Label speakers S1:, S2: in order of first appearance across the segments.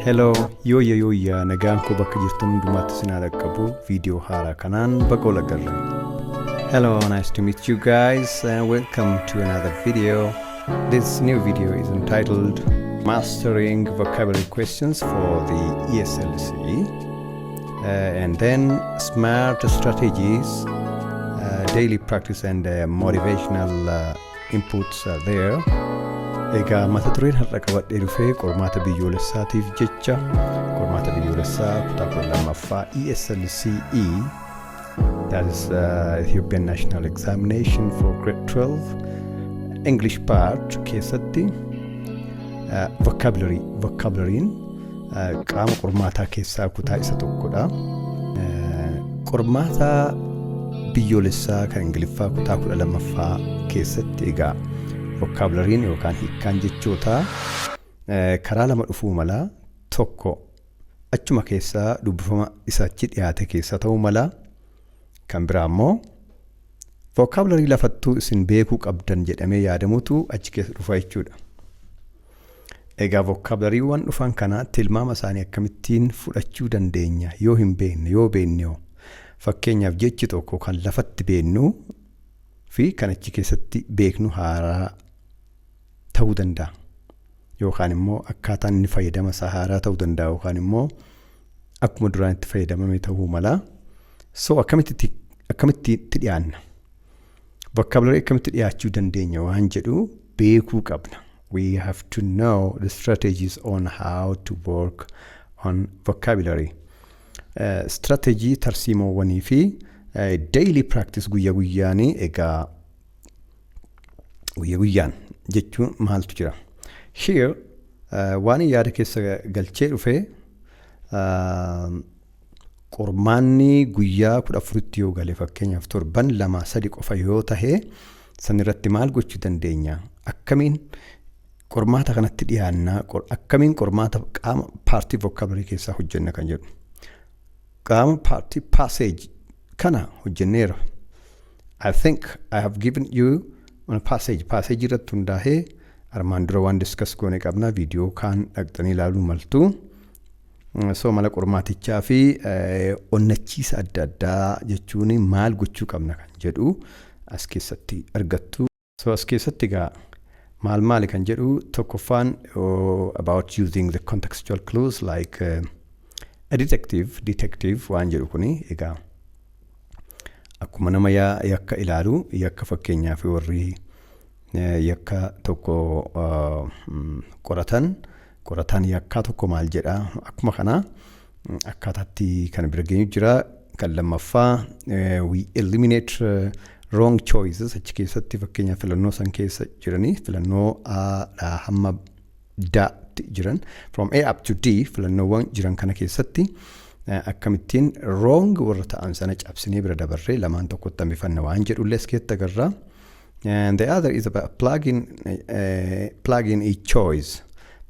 S1: Hello, yooyya yooyya nagaan koo bakka jirtan hundumaatti isin haa dhaqqabu viidiyoo haaraa kanaan baga wal agarre. Hello, nice to meet you guys and welcome to another video. This new video is entitled Mastering Vocabulary Questions for the ESLC uh, and then Smart Strategies, uh, Daily Practice and uh, Motivational uh, inputs are there. Egaa mata dureen har'a qabadhee dhufee qormaata biyyoolessaatiif jecha qormaata biyyoolessaa kutaa kudha lammaffaa ESLCE that is uh, Ethiopian National Examination for grade 12 English part keessatti uh, vocabulary vocabulary'n qaama qormaataa keessaa kutaa isa tokkodha. Qormaata biyyoolessaa kan Ingiliffaa kutaa kudha lammaffaa keessatti egaa vokaabulariin yookaan hiikkaan jechootaa karaa lama dhufuu mala tokko achuma keessaa dubbifama isa achi dhiyaate keessa ta'uu mala kan biraa immoo vokaabularii lafattuu isin beekuu qabdan jedhamee yaadamutu achi keessa dhufa jechuudha. Egaa vokaabulariiwwan dhufan kana tilmaama isaanii akkamittiin fudhachuu dandeenya? Yoo hin beekne, yoo beekne hoo? Fakkeenyaaf jechi tokko kan lafatti beeknu fi kan achi keessatti beeknu haaraa ta'uu danda'a. Yookaan immoo akkaataan inni fayyadama isaa haaraa ta'uu danda'a yookaan immoo akkuma duraan itti fayyadamame ta'uu mala. So akkamitti akkamitti itti dhiyaanna? Vokaabularii akkamitti dhiyaachuu dandeenya waan jedhu beekuu qabna. We have to know the strategies on how to work on vocabulary. Eh, Strategy tarsiimoowwanii fi eh, daily practice guyya guyyaanii egaa guyya guyyaan jechuun maaltu jira. Here eh, waan yaada keessa galchee dhufe eh, Qormaanni guyyaa 14tti yoo gale fakkeenyaaf torban lamaa sadi qofa yoo tahe san irratti maal gochuu dandeenya? Akkamiin qormaata kanatti dhiyaannaa? Qor- Akkamiin qormaata qaama paartii vocabulary keessaa hojjenna kan jedhu. Qaama paartii passage kana hojjenneera. I think I have given you on a passage. Passage irratti hundaa'ee armaan dura waan discuss goone qabna. Viidiyoo kaan dhaqxanii ilaaluu maltu. So mala qormaatichaa fi onnachiisa adda addaa jechuun maal gochuu qabna kan jedhu as keessatti argattu. So as keessatti egaa maal maali kan jedhu tokkoffaan about using the contextual clues like a detective, detective waan jedhu kuni egaa akkuma nama yakka ilaalu yakka fakkeenyaaf warri yakka tokko qoratan Qorataan yakkaa tokko maal jedha? Akkuma kana akkaataatti kan bira geenyu jira. Kan lammaffaa we eliminate wrong choices achi keessatti fakkeenyaaf filannoo san keessa jiranii filannoo A dhaa hamma Datti jiran from A up to D filannoowwan jiran kana keessatti akkamittiin wrong warra ta'an sana cabsinee bira dabarree lamaan tokkotti hambifanna waan jedhullee as keessatti agarra. And the other is about plugin, uh, plugin is choice.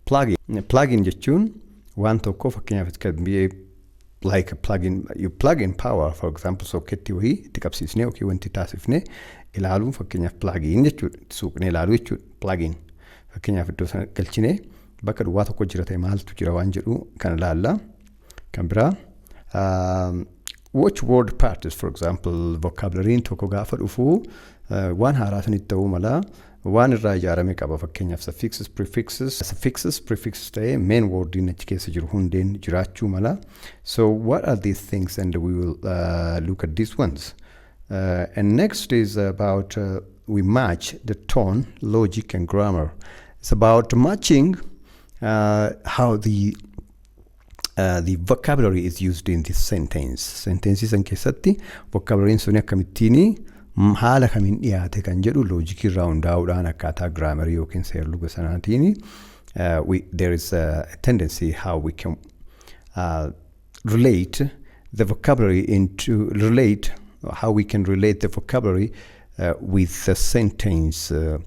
S1: Plugin, plugin jechuun waan tokko fakkeenyaaf it can be a, like a plugin, you plug in power for example sokketti wayii itti qabsiisnee yookiin wanti taasifnee ilaaluun fakkeenyaaf plugin jechuudha itti suuqnee ilaaluu jechuudha plugin fakkeenyaaf iddoo sana galchinee bakka duwwaa tokko jira ta'e maaltu jira waan jedhu kan ilaalla. Kan biraa um, watch word parts for example vocabulary'n tokko gaafa dhufu uh, waan haaraa sanitti ta'uu mala waan irraa ijaarame qaba fakkeenyaaf suffixes prefixes suffixes prefixes ta'ee main word'n achi keessa jiru hundeen jiraachuu mala so what are these things and we will uh, look at these ones uh, and next is about uh, we match the tone logic and grammar it's about matching uh, how the the vocabulary is used in this sentence. Senteensii san keessatti vocabulary'n suni akkamittiin haala kamiin dhiyaate kan jedhu loojikii irraa hundaa'uudhaan akkaataa giraamarii yookiin seerluga sanaatiin there is a tendency how we can uh, relate the vocabulary into relate how we can relate the vocabulary Uh, with the sentence uh,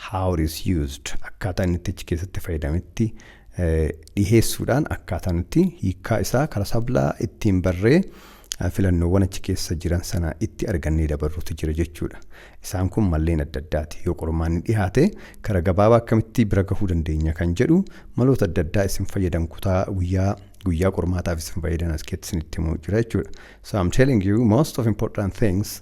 S1: how it is used akkaataa inni itti achi keessatti fayyadametti uh, dhiheessuudhaan akkaataa nuti hiikkaa isaa karaa sablaa ittiin barree uh, filannoowwan achi keessa jiran sana itti argannee dabarruutu jira jechuudha. Isaan kun malleen adda addaati. Yoo qormaanni dhihaate karaa gabaabaa akkamitti bira gahuu dandeenya kan jedhu maloota adda addaa isin fayyadan kutaa guyyaa guyyaa qormaataaf isin fayyadan as keessatti isinitti himuu jira jechuudha. So I'm telling you most of important things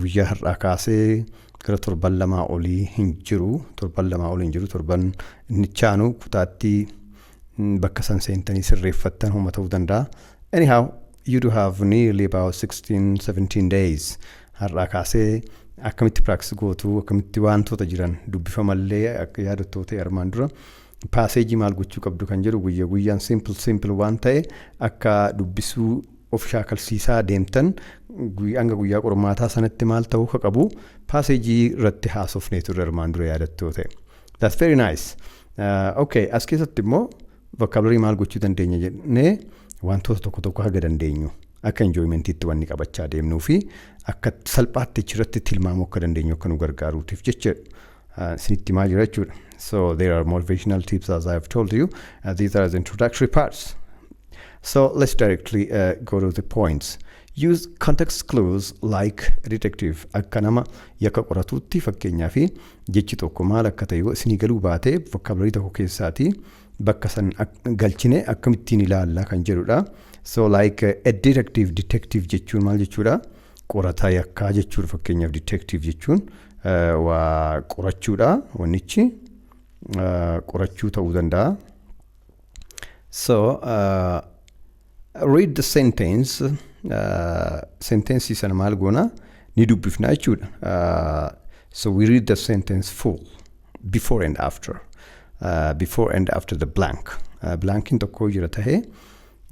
S1: Guyyaa har'aa kaasee gara torban lamaa olii hin jiru. Torban lamaa olii hin jiru. Torban inni chaanu kutaatti bakka san seentanii sirreeffattan homa ta'uu danda'a. Anyhow, you do have nearly about 16, 17 days. Har'aa kaasee akkamitti practice gootu, akkamitti wantoota jiran dubbifamallee akka yaadattoota armaan dura paaseejii maal gochuu qabdu kan jedhu guyya guyyaan simple simple waan ta'e akka dubbisuu of shaakalsiisaa deemtan hanga guyyaa qormaataa sanatti maal ta'uu akka qabu paaseejii irratti haasofnee turre armaan dura yaadattu yoo ta'e. That's very nice. Uh, okay, as keessatti immoo vocabulary maal gochuu dandeenya jennee wantoota tokko tokko haga dandeenyu akka enjoymentiitti wanni qabachaa deemnuu fi akka salphaatti achirratti tilmaamuu akka dandeenyu akka nu gargaaruutiif jecha uh, sinitti himaa jira jechuudha. So there are motivational tips as I have told you. Uh, these are the introductory parts. So let's directly uh, go to the points. Use context clues like detective akka nama yakka qoratuutti fakkeenyaa fi jechi tokko maal akka ta'e yoo isinii galuu baate vocabulary tokko keessaati bakka san ak- galchine akkamittiin ilaalla kan jedhudha. So like uh, a detective detective jechuun maal jechuudha? Qorataa yakkaa jechuudha fakkeenyaaf detective jechuun waa qorachuudha wannichi qorachuu ta'uu danda'a. So uh, read the sentence uh, sentence sana maal goona ni dubbifna jechuudha. Uh, so we read the sentence full before and after uh, before and after the blank uh, blankin tokko jira tahee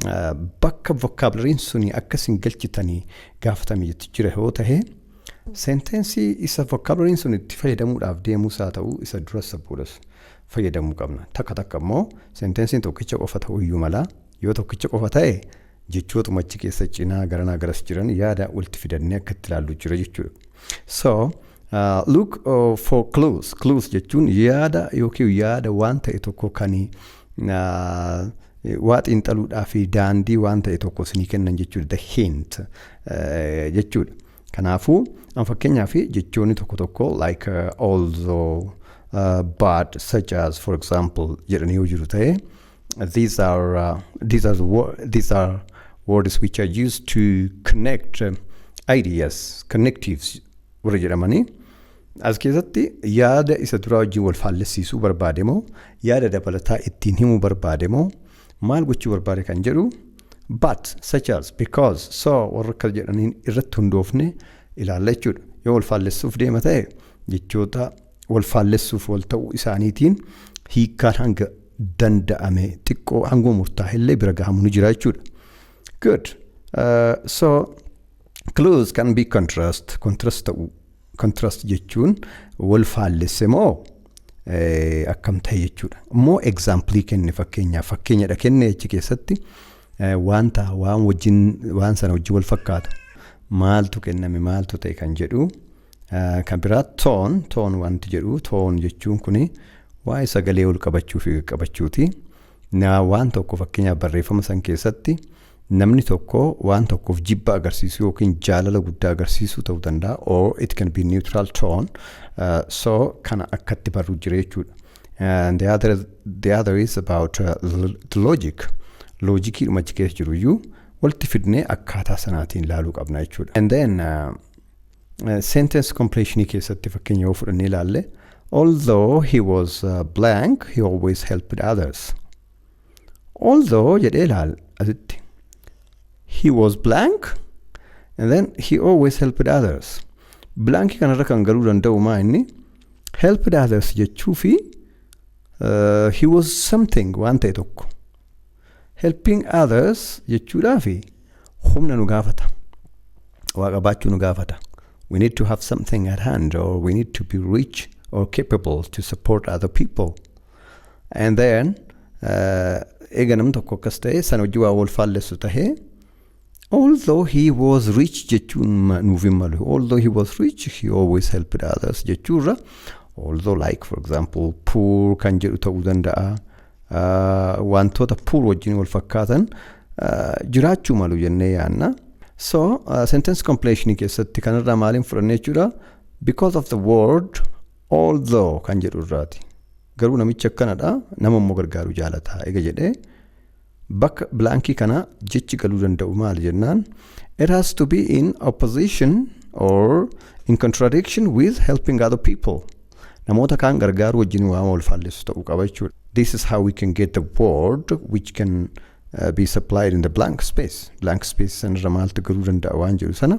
S1: uh, bakka vocabulariin suni akka isin galchitanii gaafatame jira yoo tahee Senteensii isa vokaabulariin sun itti fayyadamuudhaaf deemus haa ta'u isa duras isa boodas fayyadamuu qabna. Takka takka immoo senteensiin tokkicha qofa ta'uu iyyuu mala. Yoo tokkicha qofa ta'e jechootuma achi keessa cinaa garanaa garas jiran yaada walitti fidannee akka itti ilaallu jira jechuudha. So, uh, look uh, for clues. Clues jechuun yaada yookiin yaada waan ta'e tokko kan waa xiinxaluudhaa fi daandii waan ta'e tokko isinii kennan jechuudha. The hint jechuudha. Kanaafuu an fakkeenyaaf jechoonni tokko tokko like although but such as for example jedhanii yoo jiru ta'e these are these are these are words which are used to connect ideas connectives warri jedhamanii as keessatti yaada isa duraa wajjin wal faallessiisuu barbaade moo yaada dabalataa ittiin himuu barbaade moo maal gochuu barbaade kan jedhu but such as because so warra akkas jedhaniin irratti hundoofne ilaalla jechuudha yoo wal faallessuuf deema ta'e jechoota wal faallessuuf wal ta'uu isaaniitiin hiikkaan hanga danda'ame xiqqoo hanguma murtaa'ellee bira gahamu ni jira jechuudha. Good. Uh, so Clues can be contrast. Contrast ta'uu. Contrast jechuun wal faallesse moo eh, akkam ta'e jechuudha. Immoo example kenne fakkeenyaaf fakkeenyadha kenne achi keessatti eh, wanta waan wajjin waan sana wajjin wal fakkaatu maaltu kenname maaltu ta'e kan jedhu eh, kan biraa toon toon wanti jedhu toon jechuun kuni waa'ee sagalee ol qabachuu fi qabachuuti. Na waan tokko fakkeenyaaf barreeffama san keessatti Namni tokko waan tokkoof jibba agarsiisuu yookiin jaalala guddaa agarsiisuu ta'uu danda'a. Or it can be neutral tone. Uh, so kana akkatti barru jira jechuudha. And the other, the other is about uh, l- the logic. Loojikii dhuma achi keessa jiru iyyuu walitti fidnee akkaataa sanaatiin ilaaluu qabna jechuudha. And then uh, uh, sentence completion keessatti fakkeenya yoo fudhannee ilaalle although he was uh, blank he always helped others. although jedhee laal asitti he was blank and then he always helped others blank kanarra kan galuu danda'u maa inni helped others jechuu fi uh, he was something waan ta'e tokko helping others jechuudhaa fi humna nu gaafata waa qabaachuu nu gaafata we need to have something at hand or we need to be rich or capable to support other people And then eega nam tokko akkas ta'e sana hojii waa wal faallessu ta'e although he was rich jechuun nuuf hin malu although he was rich he always helped others jechuurra although like for example poor kan jedhu ta'uu danda'a wantoota poor wajjin wal fakkaatan jiraachuu malu jennee yaanna so sentence completion keessatti kanarraa maaliin fudhanne jechuudha because of the word Although kan jedhu irraati. Garuu namichi akkanadha, nama immoo gargaaruu jaalata. Ega jedhee bakka bilaankii kanaa jechi galuu danda'u maali jennaan it has to be in opposition or in contradiction with helping other people. Namoota kaan gargaaruu wajjin waan wal faallessu ta'uu qaba jechuudha. This is how we can get the word which can uh, be supplied in the blank space. Blank space sanirra maaltu galuu danda'a waan jedhu sana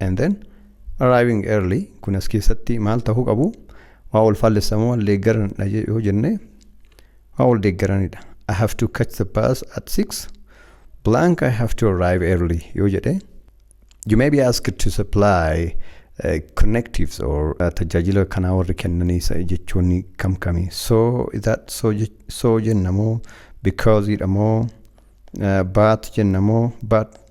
S1: and then arriving early kun as keessatti maal ta'uu qabu waa wal faallessa moo wal deeggaranidha je- yoo jenne waa wal deeggaranidha I have to catch the bus at 6 blank I have to arrive early yoo jedhe you may be asked to supply uh, connectives or uh, tajaajila kanaa warri kennanii sa- jechoonni kam kami so is that so je- so jenna moo because dha moo uh, but jenna moo but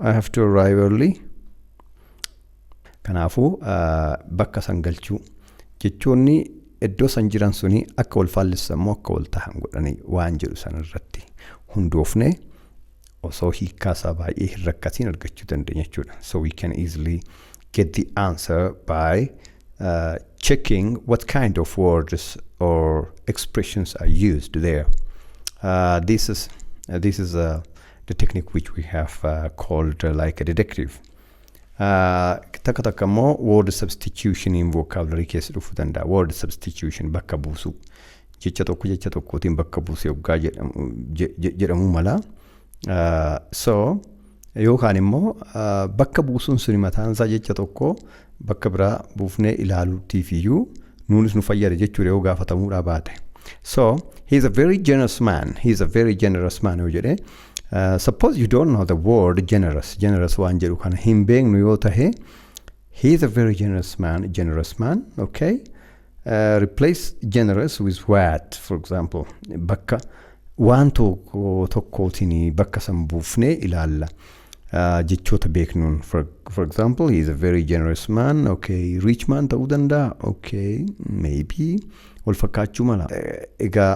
S1: I have to arrive early. Kanaafuu bakka san galchuu jechoonni iddoo san jiran suni akka wal faallessan moo akka wal tahan godhanii waan jedhu san irratti hundoofne osoo hiikkaa isaa baay'ee hin rakkatiin argachuu dandeenya jechuudha. So we can easily get the answer by uh, checking what kind of words or expressions are used there. Uh, this is uh, this is a the technique which we have uh, called uh, like a deductive. Uh, takka takka immoo word substitution in vocabulary keessa dhufuu danda'a. Word substitution bakka buusuu. Jecha tokko jecha tokkootiin bakka buusee hoggaa jedhamu, je- je- jedhamuu mala. Uh, so yookaan immoo uh, bakka buusuun suni mataan isaa jecha tokko bakka biraa buufnee ilaaluutiifiyyuu nuunis nu fayyada jechuudha yoo gaafatamuudhaa baate. So he is a very generous man. He is a very generous man yoo jedhe. Uh, suppose you don't know the word generous. Generous waan jedhu kana hin beeknu yoo tahe he is a very generous man. Generous man. Okay. Replace generous with what for example bakka waan tokko tokkootiin bakka san buufnee ilaalla Ah, jechoota beeknuun for, for example he is a very generous man okay rich man ta'uu danda'a okay maybe wal fakkaachuu mala Eh, egaa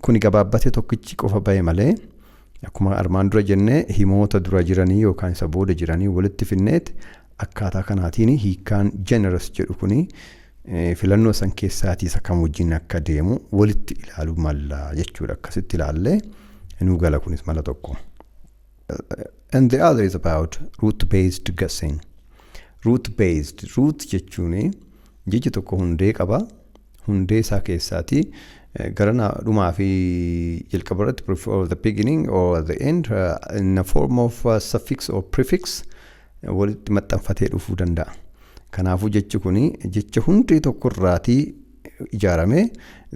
S1: kuni gabaabbate tokkichi qofa ba'e malee Akkuma armaan dura jenne himoota dura jiranii yookaan isa booda jiranii walitti finneet akkaataa kanaatiin hiikkaan generous jedhu kun filannoo san keessaatii isa kam wajjin akka deemu walitti ilaaluu malla jechuudha. Akkasitti ilaallee nuu gala kunis mala tokko. And the other is about root based guessing. Root based root jechuun Jechi tokko hundee qaba. Hundee isaa keessaati gara na- dhumaa fi jalqaba irratti before the beginning or the end uh, in the form of uh, suffix or prefix uh, walitti maxxanfatee dhufuu danda'a. Kanaafuu jechi kun jecha hundee tokko irraatii ijaarame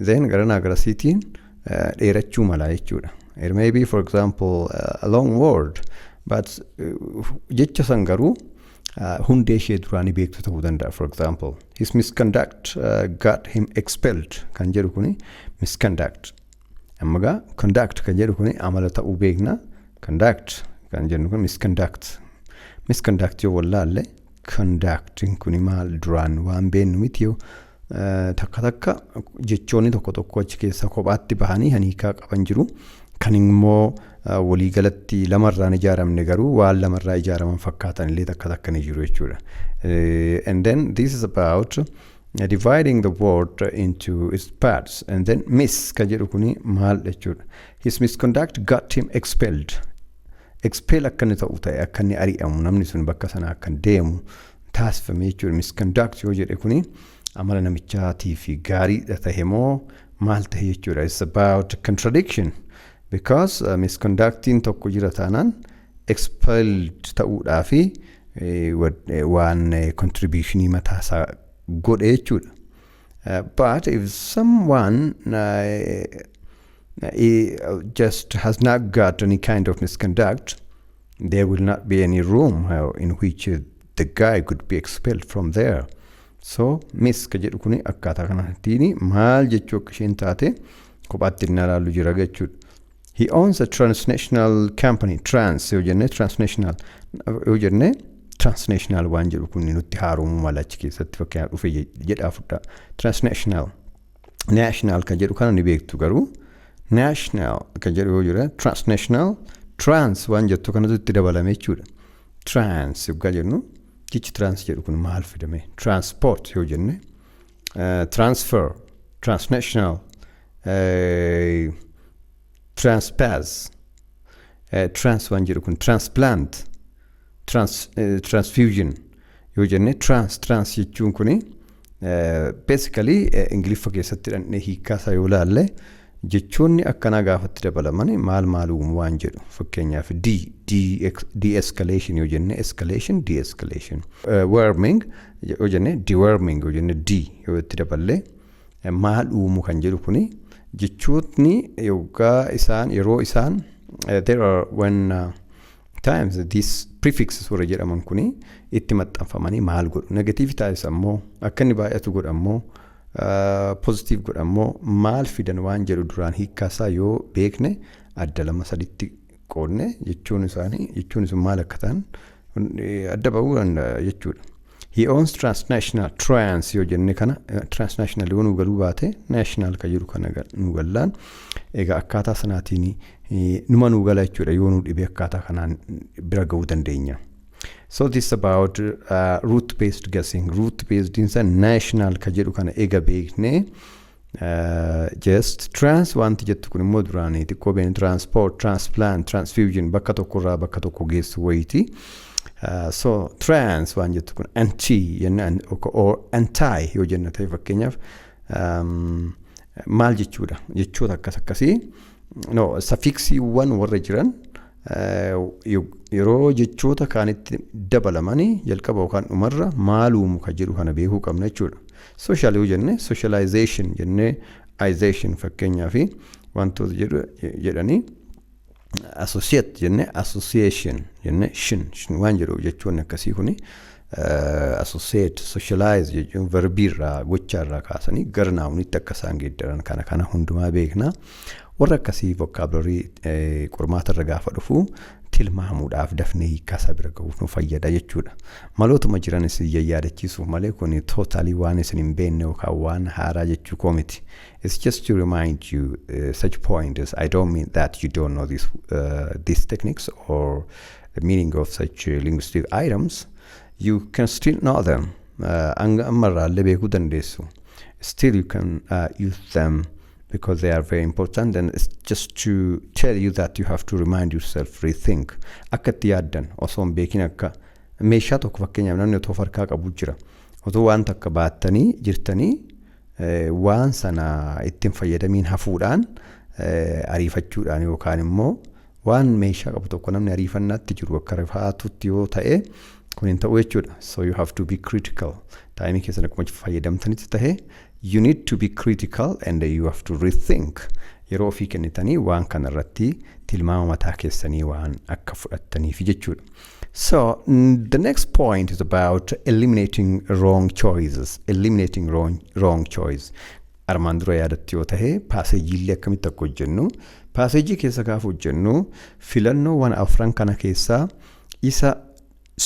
S1: then gara naa garasiitiin uh, dheerachuu mala jechuudha. It may be for example uh, a long word but uh, jecha san garuu hundee ishee duraa ni beektu ta'uu danda'a for example his misconduct uh, got him expelled kan jedhu kuni misconduct amma gaa conduct kan jedhu kuni amala ta'uu beekna conduct kan jennu kun misconduct misconduct yoo wallaalle conducting kuni maal duraan waan beennu miti yoo Takka takka jechoonni tokko tokko achi keessaa kophaatti bahanii kan hiikaa qaban jiru. Kan immoo waliigalatti lamarraa hin ijaaramne garuu waan lamarraa ijaaraman fakkaatan illee takka takka ni jiru jechuudha. And then this is about dividing the word into its parts and then miss kan jedhu kuni maal jechuudha. His misconduct got him expelled. Expel akka inni ta'u ta'e akka inni ari'amu namni sun bakka sana akka deemu taasifame jechuudha. Misconduct yoo jedhe kuni amala namichaatii fi gaariidha tahe moo maal tahe jechuudha. It's about contradiction because uh, misconductiin tokko jira taanaan expelled ta'uudhaa fi eh, wad- eh, waan eh, contributionii mataa isaa godhe jechuudha. Uh, but if someone uh, he just has not got any kind of misconduct, There will not be any room uh, in which uh, the guy could be expelled from there. So miss ka jedhu kuni akkaataa kanaatiin maal jechuu akka isheen taate kophaatti inni ilaallu jira jechuudha. He owns a transnational company trans yoo jenne transnational yoo jenne transnational waan jedhu kun nutti haaromuu mala achi keessatti fakkeenyaaf dhufe jedhaa fudhaa transnational national kan jedhu kana ni beektu garuu national kan jedhu yoo jira transnational trans waan jettu kanatu itti dabalame jechuudha. Trans yoggaa jennu jechi trans jedhu kun maal fidame transport yoo jenne eh, transfer transnational eh, Transpaz. Eh, Trans waan jedhu kun transplant. Trans, eh, transfusion yoo jenne trans trans jechuun kuni eh, basically eh, ingiliffa keessatti dhandhee hiikkaasaa yoo laalle jechoonni akkanaa gaafatti dabalaman maal maal uumu waan jedhu fakkeenyaaf d de-escalation yoo jenne escalation de-escalation Eh, warming yoo jenne deworming yoo jenne d yoo itti daballee maal uumu kan jedhu kuni jechootni yoggaa isaan yeroo isaan eh, there are when uh, times these prefixes warra jedhaman kuni itti maxxanfamanii maal godhu negatiivi taayis ammoo akka inni baay'atu godha ammoo pozitiiv godha ammoo maal fidan waan jedhu duraan hiikkaasaa yoo beekne adda lama saditti qoodne jechuun isaanii jechuun sun maal akka ta'an adda ba'uu danda'a jechuudha. He owns transnational trans yoo jenne kana transnational yoo nu galuu baate national kan jiru kana nu gallaan egaa akkaataa sanaatiin numa nu gala jechuudha yoo nu dhibee akkaataa kanaan bira ga'uu dandeenya. So this about uh, root based guessing. Root based insa national ka jedhu kana ega beekne Just trans wanti jettu kun immoo duraanii xiqqoo beenu transport, transplant, transfusion bakka tokko irraa bakka tokko geessu wayiiti. Uh, so trans waan jettu kun anti jenna an- ok- or anti yoo jenna ta'e fakkeenyaaf um, maal jechuudha jechoota akkas akkasii no safiiksiiwwan warra jiran yeroo jechoota kaanitti dabalamanii jalqaba yookaan dhumarra maaluumu ka jedhu kana beekuu qabna jechuudha. Sooshaal yoo jenne sooshalaayizeeshin jennee ayizeeshin fakkeenyaa fi wantoota jedhu jedhanii asosiyeet jennee asosiyeeshin jennee shin shin waan jedhu jechoonni akkasii kuni Associate, socialize jechuun verbii irraa gochaa irraa kaasanii gara naawunitti akka isaan geeddaran kana kana hundumaa beekna. Warra akkasii vokaabularii qormaata irra gaafa dhufu tilmaamuudhaaf dafnee hiikkaasaa bira gahuuf nu fayyada jechuudha. Malootuma jiran isin yayyaadachiisuuf malee kun tootaalii waan isin hin beekne yookaan waan haaraa jechuu koo miti. It's just to remind you uh, such points. I don't mean that you don't know this, uh, these techniques or the meaning of such uh, linguistic items, you can still know them. Uh, Hanga ammarraa illee beekuu dandeessu. Still you can uh, use them because they are very important and it's just to tell you that you have to remind yourself, rethink. Akka itti yaaddan osoo hin beekin akka meeshaa tokko fakkeenyaaf namni otoo farkaa qabu jira. Otoo waan takka baattanii jirtanii eh, waan sana ittiin fayyadamiin hafuudhaan eh, ariifachuudhaan yookaan immoo Waan meeshaa qabu tokko namni ariifannaatti jiru akka rifaatutti yoo ta'e kun hin ta'u jechuudha. So you have to be critical. Taayimii keessan akkuma fayyadamtanitti ta'e you need to be critical and you have to rethink. Yeroo ofii kennitanii waan kana irratti tilmaama mataa keessanii waan akka fudhattaniif jechuudha. So the next point is about eliminating wrong choices. Eliminating wrong, wrong choice. Armaan dura yaadattu yoo tahe paaseejiillee akkamitti akka hojjennu paaseejii keessa gaafa hojjennu filannoowwan afran kana keessaa isa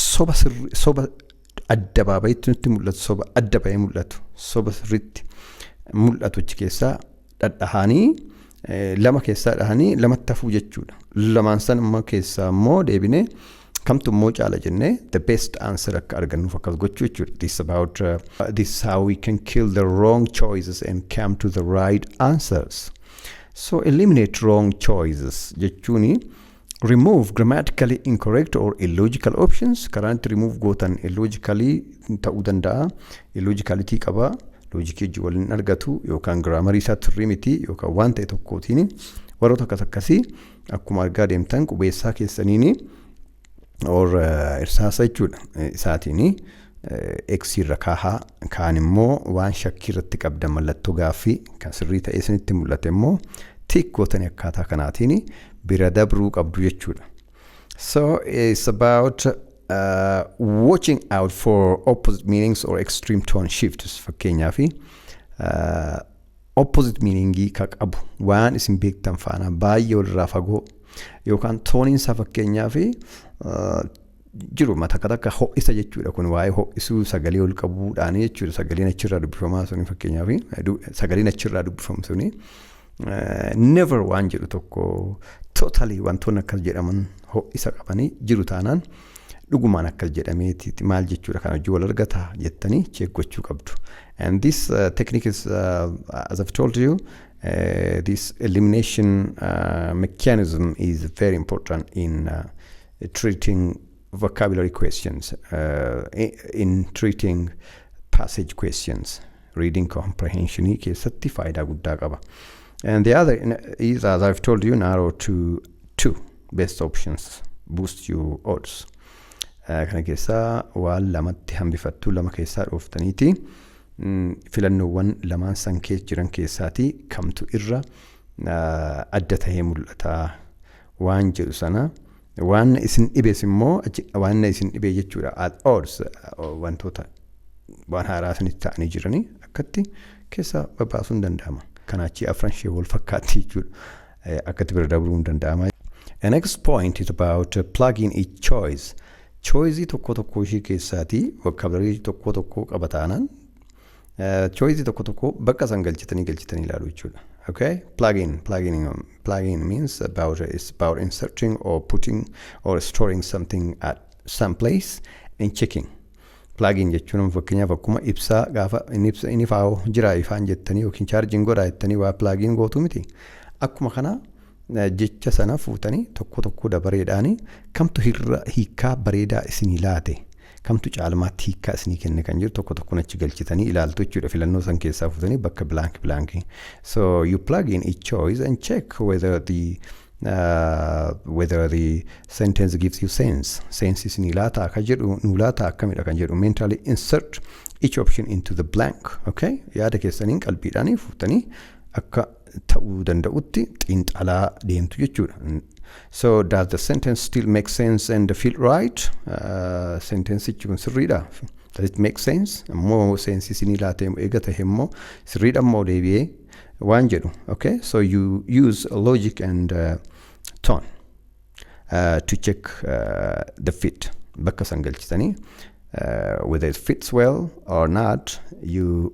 S1: soba sirri soba adda baabayitti nutti mul'atu soba adda bahee mul'atu soba sirriitti mul'atu achi keessaa dhadhahaanii lama keessaa dhahanii lamatti hafuu jechuudha. Lamaan san immoo keessaa immoo deebinee Kamtu immoo caala jennee the best answer akka argannuuf akkas gochuu jechuudha. This about uh, this is how we can kill the wrong choices and come to the right answers. So eliminate wrong choices jechuuni remove grammatically incorrect or illogical options karaan itti remove gootan illogically ta'uu danda'a illogicality qaba loojikii wajjin waliin argatu yookaan giraamarii isaa turrii miti yookaan waan ta'e tokkootiin warroota akkas akkasii Akkuma argaa deemtan qubeessaa keessaniin or irsaasa jechuudha isaatiin X irra kaahaa kaan immoo waan shakkii irratti qabdan mallattoo gaaffii kan sirrii ta'ee isinitti mul'ate immoo tiik gootanii akkaataa kanaatiin bira dabruu qabdu jechuudha. So it's about uh, watching out for opposite meanings or extreme tone shifts fakkeenyaaf uh, opposite meaning ka qabu waan isin beektan faana baay'ee walirraa fagoo yookaan tooniin isaa fakkeenyaa fi jiru takka takka ho'isa jechuudha kun waa'ee ho'isuu sagalee ol qabuudhaan jechuudha sagaleen achirraa dubbifamaa suni fakkeenyaa fi sagaleen achirraa dubbifamu suni never waan jedhu tokko totally wantoonni akkas jedhaman ho'isa qabanii jiru taanaan Dhugumaan akkas jedhameeti maal jechuudha kan hojii wal argata jettanii cheek gochuu qabdu. And this uh, technique is uh, as I've told you uh, this elimination uh, mechanism is very important in uh, treating vocabulary questions uh, in treating passage questions. Reading comprehension keessatti faayidaa guddaa qaba. And the other in- is, as I've told you, narrow to two best options boost your odds. Eh, Kana keessaa waan lamatti hambifattuu lama keessaa dhooftaniiti mm, filannoowwan lamaan san keessa jiran keessaati kamtu irra eh, adda tahee mul'ata waan jedhu sana Waan isin dhibes immoo achi waan na isin dhibee jechuudha at odds wantoota waan haaraa isinitti ta'anii jiranii akkatti keessa babbaasuun danda'ama. Kanaachii afran ishee wal fakkaatti jechuudha akkatti bira dabruun danda'ama. The next point is about plugging each choice. Choice tokko tokko ishee keessaatii vocabulary tokko tokko qaba taanaan Choice tokko tokko bakka san galchitanii galchitanii ilaalu jechuudha. Okay? Plugin, plugin, plugin means about it's about inserting or putting or storing something at some place and checking. Plugin jechuun fakkeenyaaf akkuma ibsaa gaafa inni ibsa inni faa jiraa ifaan jettanii yookiin chaarjiin godhaa jettanii waa plugin gootu miti. Akkuma kana jecha sana fuutanii tokko tokko dabareedhaanii kamtu hirra hiikaa bareedaa isinii laate. Kamtu caalmaatti hiikkaa isinii kenne kan jedhu tokko tokkoon achi galchitanii ilaaltu jechuudha filannoo san keessaa fuutanii bakka blank blank. So you plug in each choice and check whether the uh, whether the sentence gives you sense. Sense isinii laata akka jedhu nuu laata akkamidha kan jedhu mentally insert each option into the blank. Okay? Yaada keessaniin qalbiidhaan fuutanii akka ta'uu danda'utti xiinxalaa deemtu jechuudha. So does the sentence still make sense and feel right? Uh, sentensichi kun sirriidha. Does it make sense? Immoo seensi isinii laatee eega ta'e immoo sirriidha immoo deebi'ee waan jedhu. Okay? So you use logic and uh, tone uh, to check uh, the fit. Bakka san galchitanii uh, whether it fits well or not you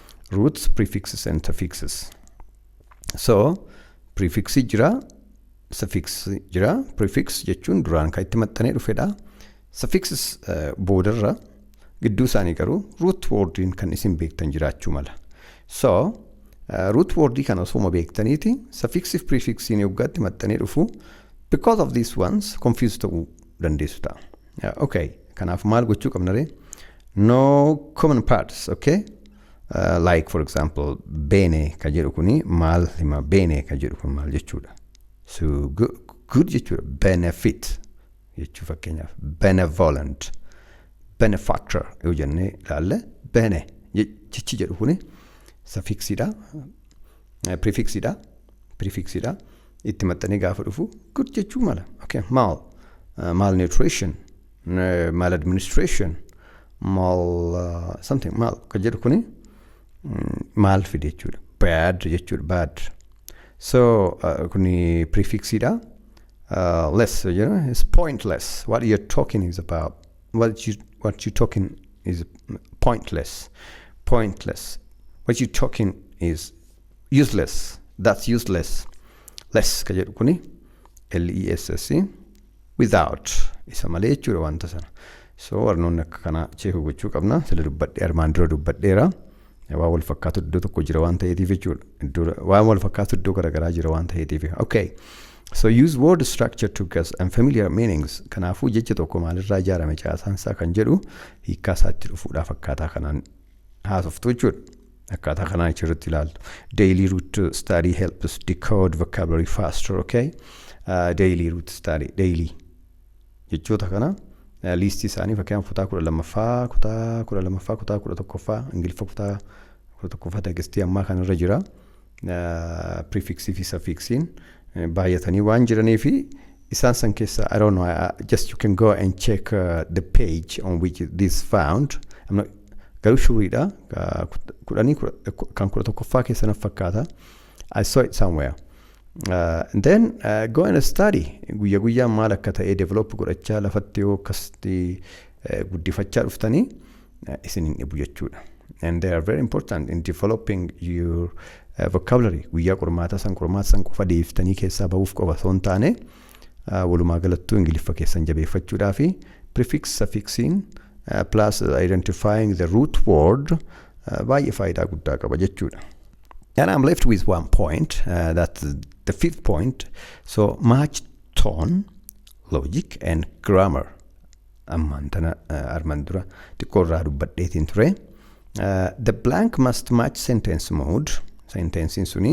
S1: roots prefixes and suffixes so prefixi jira suffix jira prefix jechuun duraan kan itti maxxanee dhufedha suffixes eh, boodarra gidduu isaanii garuu root wordiin kan isin beektan jiraachuu mala so eh, root wordii kana osuma beektaniiti suffixif prefixiin yoggaatti maxxanee dhufu because of these ones confuse ta'uu dandeessu ta'a. Ya, Okay, kanaaf maal gochuu qabna ree? No common parts, okay? Uh, like for example, bene ka jedhu kuni maal hima? Bene ka jedhu kun maal jechuudha? So good, good jechuudha. Benefit jechuu fakkeenyaaf benevolent, benefactor yoo jennee ilaalle bene je- jechi jedhu kuni safiksiidha, prefixidha, prefixidha. itti maxxanee gaafa dhufu good jechuu mala okay mal malnutrition eh, maladministration mal uh, something mal kan jedhu kuni mm, maal fide jechuudha bad jechuudha bad so uh, kuni prefixidha uh, less you know it's pointless what you're talking is about what you what you talking is pointless pointless what you talking is useless that's useless less ka jedhu kuni less without isa malee jechuudha wanta sana so warnoonni akka kanaa cheekuu gochuu qabna sila dubbadhee armaan dura dubbadheera waan wal fakkaatu iddoo tokko jira waan ta'eetiif jechuudha iddoo waan wal fakkaatu iddoo garaagaraa jira waan ta'eetiif okay so use word structure to guess and familiar meanings kanaafuu jecha tokko maalirraa ijaarame caasaan isaa kan jedhu hiikkaa isaatti dhufuudhaaf akkaataa kanaan haasoftu jechuudha akkaataa kanaan achirratti ilaaltu daily root study helps decode vocabulary faster okay uh, daily root study daily jechoota kana uh, liistii isaanii fakkeenyaaf kutaa kudha lammaffaa kutaa kudha lammaffaa kutaa kudha tokkoffaa ingiliffa kutaa kudha tokkoffaa teekistii ammaa kanarra jira Prefix fi suffixin baay'atanii waan jiranii fi isaan san keessa I don't know uh, just you can go and check uh, the page on which this found I'm not, garuu shuriidha Ka- kut- kudhanii kudha- ku- kan kudha tokkoffaa keessa naf fakkaata I saw it somewhere uh, and then uh, go and study guyya guyyaan maal akka ta'e develop godhachaa lafatti yoo akkasitti uh, guddifachaa dhuftanii isin hin dhibu jechuudha. And they are very important in developing your uh, vocabulary. Guyyaa qormaataa san qormaata san qofa deebiftanii keessaa bahuuf qofa osoo hin taane uh, walumaa galattuu ingiliffa keessan jabeeffachuudhaa fi prefix suffixiin uh, plus identifying the root word uh, baay'ee faayidaa guddaa qaba jechuudha. And I'm left with one point, uh, that's the fifth point. So match tone, logic and grammar. ammaan tana armaan dura xiqqoo irraa dubbadheetiin ture. The blank must match sentence mood. Sentensiin suni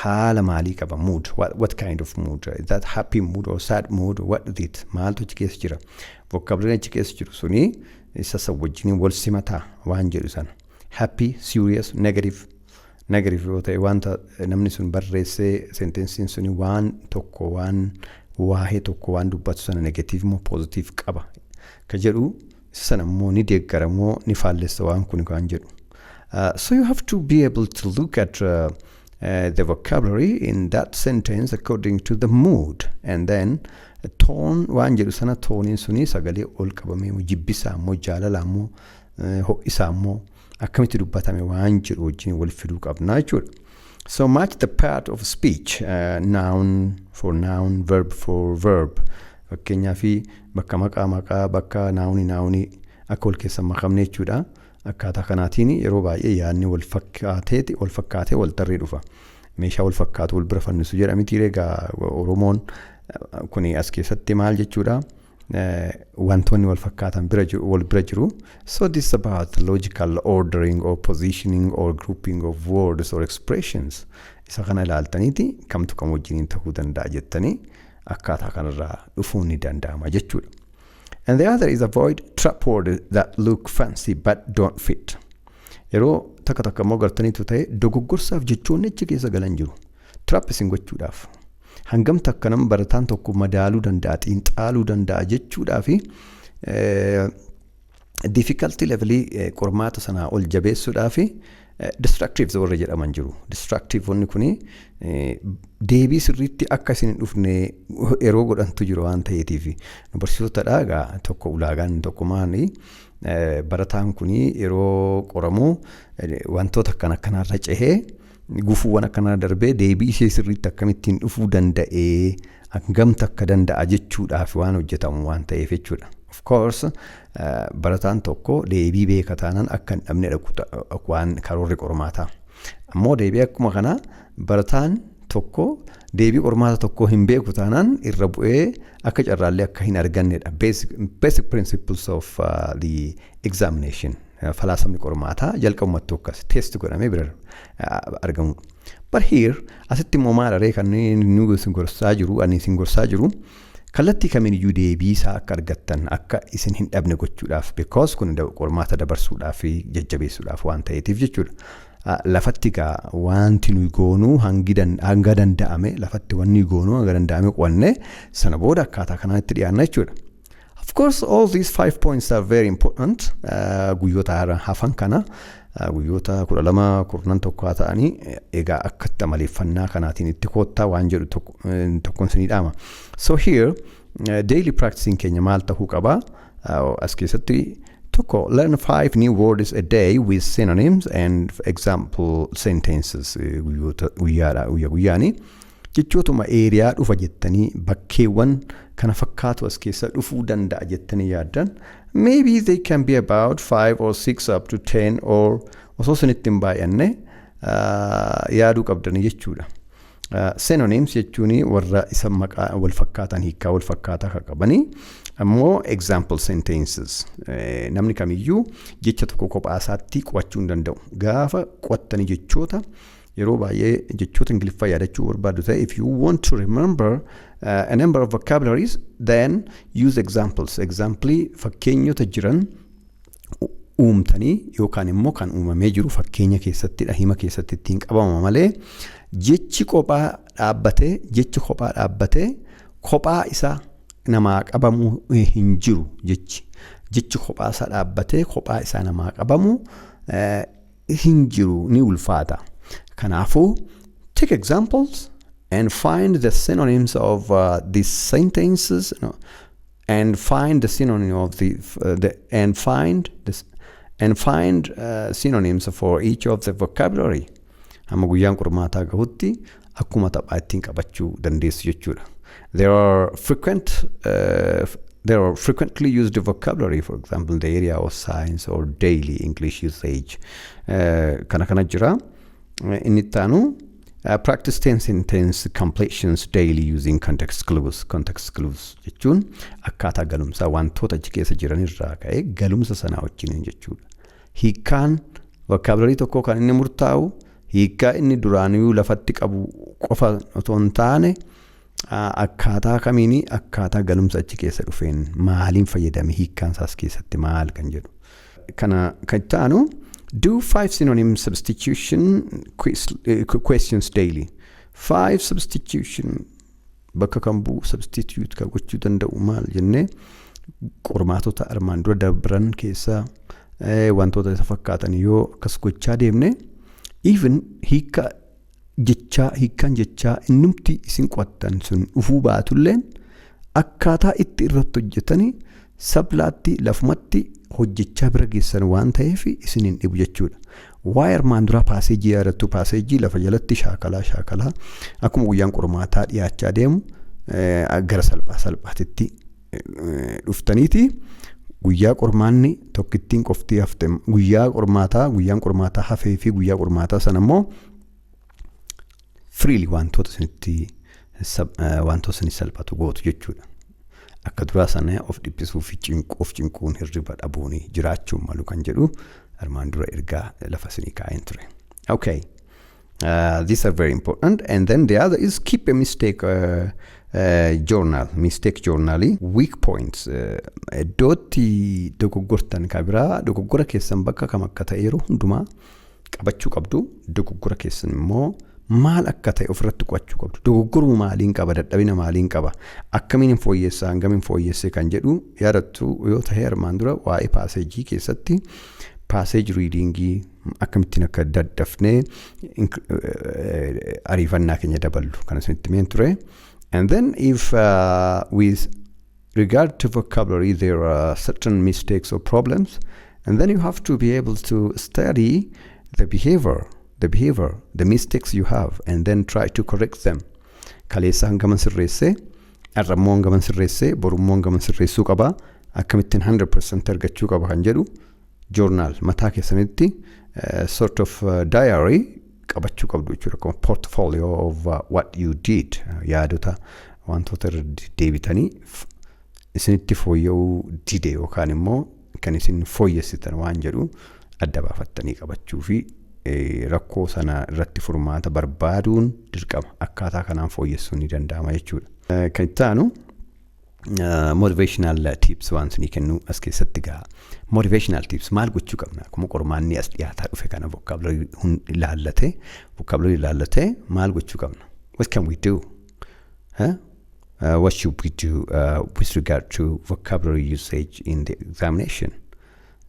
S1: haala maalii qaba mood what, what kind of mood is that happy mood or sad mood what is it maaltu achi keessa jira vocabulary achi keessa jiru suni isa san wajjiniin wal simataa waan jedhu sana happy serious negative Negative yoo ta'e wanta namni sun barreessee sentensiin suni waan tokko waan waa'ee tokko waan dubbatu sana negative moo positive qaba ka jedhu isa sana immoo ni deeggara moo ni faallessa waan kun kan jedhu. Uh, so you have to be able to look at uh, uh, the vocabulary in that sentence according to the mood and then toon waan jedhu sana tooniin suni sagalee ol qabamee moo jibbisaa moo jaalalaa moo uh, ho'isaa moo akkamitti dubbatame waan jedhu wajjin wal fiduu qabna jechuudha. So match the part of speech uh, noun for noun verb for verb fakkeenyaa fi bakka maqaa maqaa bakka naawuni naawuni akka wal keessa makamne jechuudha. Akkaataa kanaatiin yeroo baay'ee yaadni wal fakkaatee wal fakkaatee wal tarree dhufa. Meeshaa wal fakkaatu wal bira fannisu jedha miti egaa Oromoon kuni as keessatti maal jechuudha. wantoonni wal fakkaatan bira jiru wal bira jiru so this is about logical ordering or positioning or grouping of words or expressions isa kana ilaaltaniiti kamtu kam wajjiniin ta'uu danda'a jettanii akkaataa kanarraa dhufuun ni danda'ama jechuudha. And the other is avoid trap words that look fancy but don't fit. Yeroo takka takka immoo gartaniitu ta'e dogoggorsaaf jechoonni achi keessa galan jiru. Trap isin gochuudhaaf. Hangam takka nama barataan tokko madaaluu danda'a, xiinxaaluu danda'a jechuudhaa fi difficulty levelii eh, qormaata sanaa ol jabeessuudhaa fi destructives warra jedhaman jiru. Destructive wanni kuni eh, deebii sirriitti akka isin hin dhufne yeroo godhantu jiru waan ta'eetiif. Nu barsiisotadha egaa tokko ulaagaan inni tokko maali? Eh, Barataan kuni yeroo qoramu eh, wantoota akkan akkanarra cehee Gufuuwwan akkanaa darbee deebii ishee sirriitti akkamittiin dhufuu danda'ee hangam takka danda'a jechuudhaaf waan hojjetamu waan ta'eef jechuudha. Of course barataan tokko deebii beeka taanaan akka hin dhabne dhaqu waan karoorri qormaataa. Ammoo deebii akkuma kanaa barataan tokko deebii qormaata tokkoo hin beeku taanaan irra bu'ee akka carraallee akka hin argannedha. Basic, basic principles of uh, the examination. Falaasamni qormaataa jalqabumattuu akkas test godhamee bira argamu. But here asitti immoo maal aree kan nu gorsaa jiru ani isin gorsaa jiru kallattii kamiin iyyuu deebii isaa akka argattan akka isin hin dhabne gochuudhaaf because kun qormaata dabarsuudhaaf fi jajjabeessuudhaaf waan ta'eetiif jechuudha. Lafatti gaa wanti nuyi goonuu hanga danda'ame lafatti wanni goonuu hanga danda'ame qo'anne sana booda akkaataa kanaan itti dhiyaanna jechuudha. Of course, all these five points are very important. Uh, guyyoota hara- hafan kana uh, guyyoota kudha lama kurnan tokko haa ta'anii eh, egaa akkatti amaleeffannaa kanaatiin itti koottaa waan jedhu tokko- eh, tokkoon isinii dhaama. So here, uh, daily practicing keenya maal ta'uu qaba? Uh, as keessatti tokko learn five new words a day with synonyms and example sentences eh, guyyoota guyyaadha guyyaa guyyaanii. Jechootuma area dhufa jettanii bakkeewwan kana fakkaatu as keessa dhufuu danda'a jettanii yaaddan maybe they can be about 5 or 6 up to 10 or osoo isinitti hin baay'anne uh, yaaduu qabdanii jechuudha. Uh, synonyms jechuun warra isa maqaa wal fakkaatan hiikaa wal fakkaataa kan qabanii ammoo example sentences eh, namni kamiyyuu jecha tokko kophaa isaatti qo'achuu hin danda'u gaafa qo'attanii jechoota yeroo baay'ee jechoota ingiliffaa yaadachuu barbaaddu ta'e if you want to remember uh, a number of vocabularies then use examples examplii fakkeenyota jiran u- uumtanii yookaan immoo kan uumamee jiru fakkeenya keessatti hima keessatti ittiin qabama malee jechi kophaa dhaabbatee jechi kophaa dhaabbatee kophaa isaa namaa qabamuu eh, hin jiru jechi jechi kophaa isaa dhaabbatee kophaa isaa namaa qabamu eh, hin jiru ni ulfaata. Kanaafuu, take examples and find the synonyms of uh, these sentences no, and find the synonym of the, uh, the and find this and find uh, synonyms for each of the vocabulary. Amma guyyaan qormaataa gahutti akkuma taphaa ittiin qabachuu dandeessu jechuudha. There are frequent uh, there are frequently used vocabulary for example in the area of science or daily English usage uh, kana kana jira. Uh, inni itti aanu uh, practice tense and tense completions daily using context clues context clues jechuun akkaataa galumsaa wantoota achi keessa jiran irraa ka'ee galumsa sanaa wajjin jechuudha. Hiikaan vocabulary tokkoo kan inni murtaa'u Hiikkaa inni duraanuyuu lafatti qabu qofa otoo hin taane akkaataa kamiini akkaataa galumsa achi keessa dhufeen maaliin fayyadame hiikkaan isaas keessatti maal kan jedhu. Kana kan itti aanu do five synonym substitution quiz- eh, questions daily. Five substitution bakka kan bu'u substitute kan gochuu danda'u maal jennee qormaatota armaan dura dabran keessaa eh, wantoota isa fakkaatan yoo akkas gochaa deemne even hiika jechaa hiikaan jechaa innumti isin qo'attan sun dhufuu baatulleen akkaataa itti irratti hojjetanii sablaatti lafumatti hojjechaa bira geessan waan ta'eef isin hin dhibu jechuudha. Waa'ee armaan duraa paaseejii yaadattuu paaseejii lafa jalatti shaakalaa shaakalaa akkuma guyyaan qormaataa dhiyaachaa deemu gara salphaa salphaatitti dhuftaniiti guyyaa qormaanni tokkittiin qoftii hafte guyyaa qormaataa guyyaan qormaataa hafee fi guyyaa qormaataa sana immoo freely wantoota isinitti sab- eh, wantoota isinif salphatu gootu jechuudha. Akka duraa sana of dhiphisuu fi cinquu of cinquun hirriba dhabuun jiraachuun malu kan jedhu armaan dura ergaa lafa isinii kaa'een ture. Okay. Uh, these are very important. And then the other is keep a mistake uh, uh, journal, mistake journal, weak points. Uh, iddootti dogoggortan ka biraa dogoggora keessan bakka kam akka ta'eeru hundumaa qabachuu qabdu dogoggora keessan immoo maal akka ta'e ofirratti qo'achuu qabdu dogoggoruma maaliin qaba dadhabina maaliin qaba akkamiin hin fooyyessaa hangamiin fooyyessee kan jedhu yaadattu yoo ta'e armaan dura waa'ee paaseejii keessatti paaseeji riidiingii akkamittiin akka daddafnee ariifannaa keenya daballu kan isinitti meen ture and then if uh, with regard to vocabulary there are certain mistakes or problems and then you have to be able to study the behavior the behavior the mistakes you have and then try to correct them kaleessa hangaman sirreessee har'ammoo hangaman sirreessee borummoo hangaman sirreessuu qaba akkamittiin 100% argachuu qaba kan jedhu journal mataa keessanitti eh, sort of eh, diary qabachuu qabdu jechuudha akkuma portfolio of uh, what you did eh, yaadota wantoota irra deddeebitanii f- isinitti fooyya'uu dide yookaan immoo kan isin fooyyessitan waan jedhu adda baafattanii qabachuu fi eh, rakkoo sana irratti furmaata barbaaduun dirqama akkaataa kanaan fooyyessuun ni danda'ama jechuudha. Eh, Kan itti aanu motivational tips waan sunii kennu as keessatti gaa motivational tips maal gochuu qabna akkuma qormaanni as dhiyaataa dhufe kana vocabulary hun ilaallate vocabulary ilaallate maal gochuu qabna what can we do huh? uh, what should we do uh, with regard to vocabulary usage in the examination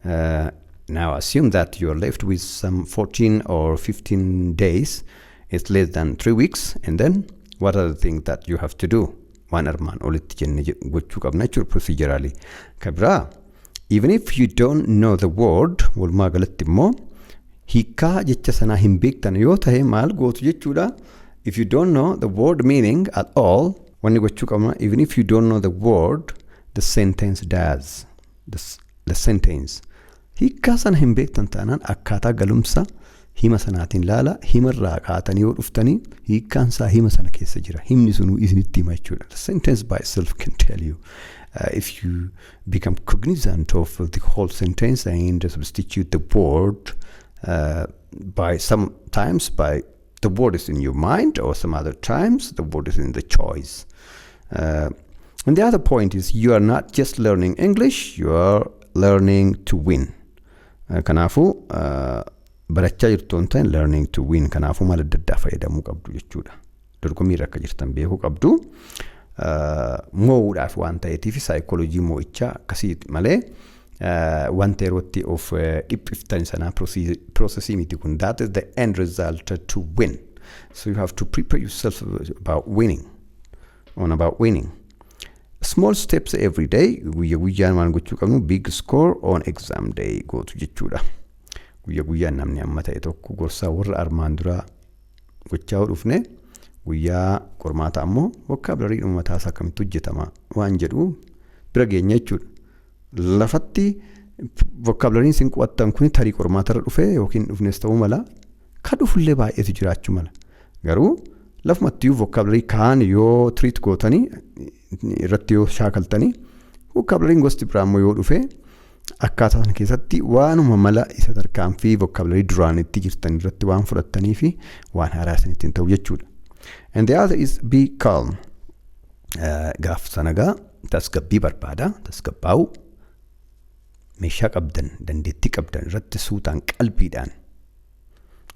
S1: uh, now assume that you are left with some 14 or 15 days it's less than three weeks and then what are the things that you have to do waan armaan olitti jenne jedhu gochuu qabna jechuudha procedurally. Ka biraa even if you don't know the word walumaa galatti immoo hiikaa jecha sanaa hin beektan yoo ta'e maal gootu jechuudha. If you don't know the word meaning at all wanni gochuu qabna even if you don't know the word the sentence does the, s- the sentence Hiikkaa sana hin beektan taanaan akkaataa galumsa hima sanaatiin laala. Hima irraa kaatanii yoo dhuftanii hiikkaan isaa hima sana keessa jira. Himni sunuu isinitti hima jechuudha. The sentence by itself can tell you uh, if you become cognizant of the whole sentence and substitute the word uh, by sometimes by the word is in your mind or some other times the word is in the choice uh, and the other point is you are not just learning english you are learning to win uh, kanaafuu uh, barachaa jirtu hin ta'in learning to win kanaafuu mala adda addaa fayyadamuu qabdu jechuudha dorgommii irra akka jirtan beekuu qabdu uh, moo'uudhaaf waan ta'eetiif saayikooloojii moo'ichaa akkasii malee wanta yerootti of dhiphiftan sanaa processii miti kun that is the end result to win so you have to prepare yourself about winning on about winning small steps every day guyya guyyaan waan gochuu qabnu big score on exam day gootu jechuudha guyya guyyaan namni amma ta'e tokko gorsaa warra armaan duraa gochaa yoo dhufne guyyaa qormaata ammoo vocabulary uummataa isaa akkamitti hojjetama waan jedhu bira geenya jechuudha Lafatti vokaabulariin isin qo'attan kun tarii qormaatarra dhufee yookiin dhufnes ta'uu mala. Ka dhufullee baay'eetu jiraachuu mala. Garuu lafumattiyyuu vokaabularii kaan yoo tiriit gootanii irratti yoo shaakaltanii vokaabulariin gosti biraa immoo yoo dhufe akkaataa sana keessatti waanuma mala isa tarkaanfii vokaabularii duraanitti jirtan irratti waan fudhattanii fi waan haaraa isinitti hin ta'u jechuudha. And the other is be calm. gaaf sana gaa tasgabbii barbaada tasgabbaa'u meeshaa qabdan dandeettii qabdan irratti suutaan qalbiidhaan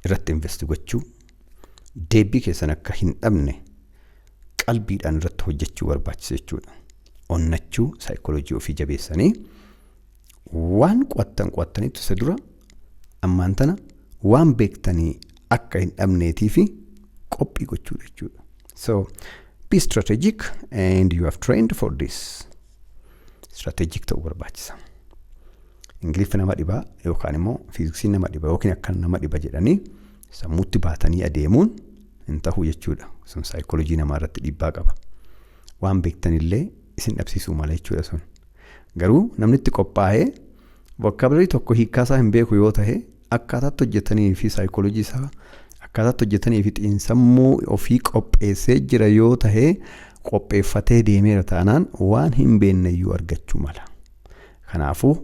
S1: irratti investi gochuu deebii keessan akka hin dhabne qalbiidhaan irratti hojjechuu barbaachisa jechuudha. Onnachuu saayikooloojii ofii jabeessanii waan qo'attan qo'attanitti isa dura ammaan tana waan beektanii akka hin dhabneetii fi qophii gochuu jechuudha. So be strategic and you have trained for this. Strategic ta'uu barbaachisa. Ingiliffi nama dhiba yookaan immoo fiiziksii nama dhiba yookiin akkan nama dhiba jedhanii sammuutti baatanii adeemuun hin ta'u jechuudha. Sun saayikoolojii namaa irratti dhiibbaa qaba. Waan beektanillee isin dhabsiisuu mala jechuudha sun. Garuu namni itti qophaa'ee vokaabularii tokko hiikkaasaa hin beeku yoo ta'e Akkaataatti hojjetanii fi saayikoolojii isaa akkaataatti hojjetanii fi xiinsammuu ofii qopheessee jira yoo ta'e qopheeffatee deemeera taanaan waan hin beekneyyuu argachuu mala. Kanaafuu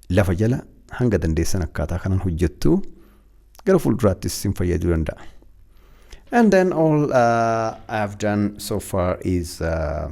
S1: lafa jala hanga dandeessan akkaataa kanaan hojjettu gara fuulduraattis isin fayyaduu danda'a. And then all uh, I have done so far is uh,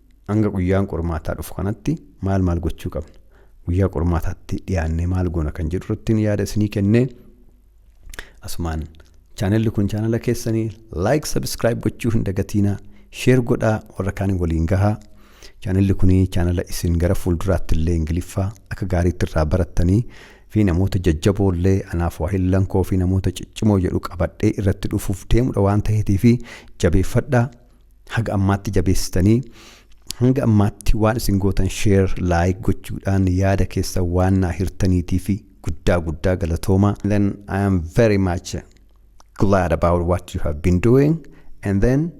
S1: Hanga guyyaan qormaataa dhufu kanatti maal maal gochuu qabna? Guyyaa qormaataatti dhiyaannee maal goona kan jedhu irrattiin yaada isinii kennee asumaan chaanelli kun chaanala keessanii laayik sabiskiraayib gochuu hin dagatiinaa sheer godhaa warra kaanii waliin gahaa chaanelli kun chaanala isin gara fuulduraatti illee ingiliffaa akka gaariitti irraa barattanii fi namoota jajjaboo illee anaaf waahillan koo fi namoota ciccimoo jedhu qabadhee irratti dhufuuf deemudha waan ta'eetii fi jabeeffadhaa haga ammaatti jabeessitanii hanga ammaatti waan isin gootan sheer laayik gochuudhaan yaada keessa waan naa hirtaniitii fi guddaa guddaa galatooma then I am very much glad about what you have been doing and then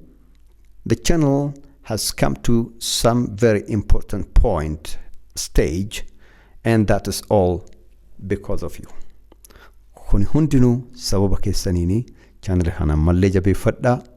S1: the channel has come to some very important point stage and that is all because of you kun hundinuu sababa keessaniini chaanali kana ammallee jabeeffadhaa